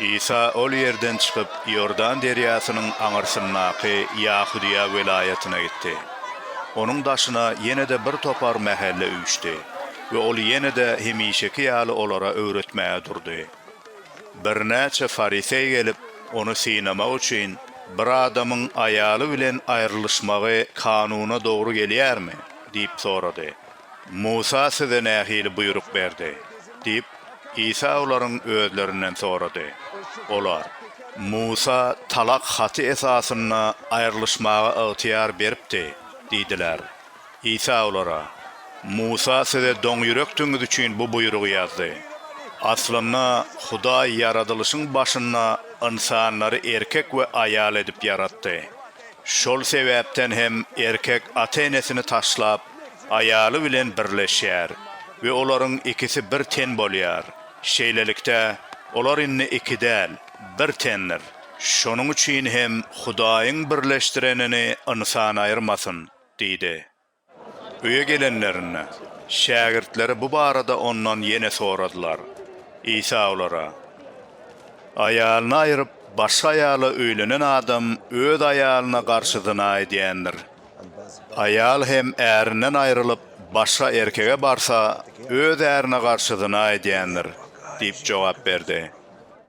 Isa ol ýerden çykyp, Iordan derýasynyň aňyrsyndaky Ýahudyýa welaýatyna gitdi. Onuň daşyna ýene-de bir topar mähelle üýşdi we ol ýene-de hemişeki ýaly olara öwretmäge durdy. Birnäçe fariseý gelip, ony synamak üçin, Bir adamyň aýaly bilen aýrylyşmagy kanuna dogry gelýärmi? diýip sorady. Musa size nähili buýruk berdi? diýip, Isa olaryň özlerinden sorady. Olar, Musa talak haty esasynda aýrylyşmaga ygtyýar beripdi diýdiler. Isa olara, Musa size doňýürekdigiňiz üçin bu buýrugy ýazdy. Aslynda Hudaý ýaradylyşyň başynda ynsanlary erkek we aýal edip ýaratdy. Şol sebäpden hem erkek ata-enesini taşlap, aýaly bilen birleşýär we olaryň ikisi bir ten bolýar. Şeýlelikde, olar indi iki däl, bir tendir. Şonuň üçin hem Hudaýyň birleşdirenini ynsan aýyrmasyn diýdi. Öýe gelenlerinde, şägirtleri bu barada ondan ýene soradylar. Isa olara, Aýalyny aýryp, başga aýala öýlenen adam öz aýalyna garşy zyna edýändir. Aýal hem ärinden aýrylyp, başga erkege barsa, öz ärine garşy zyna edýändir, diýip jogap berdi.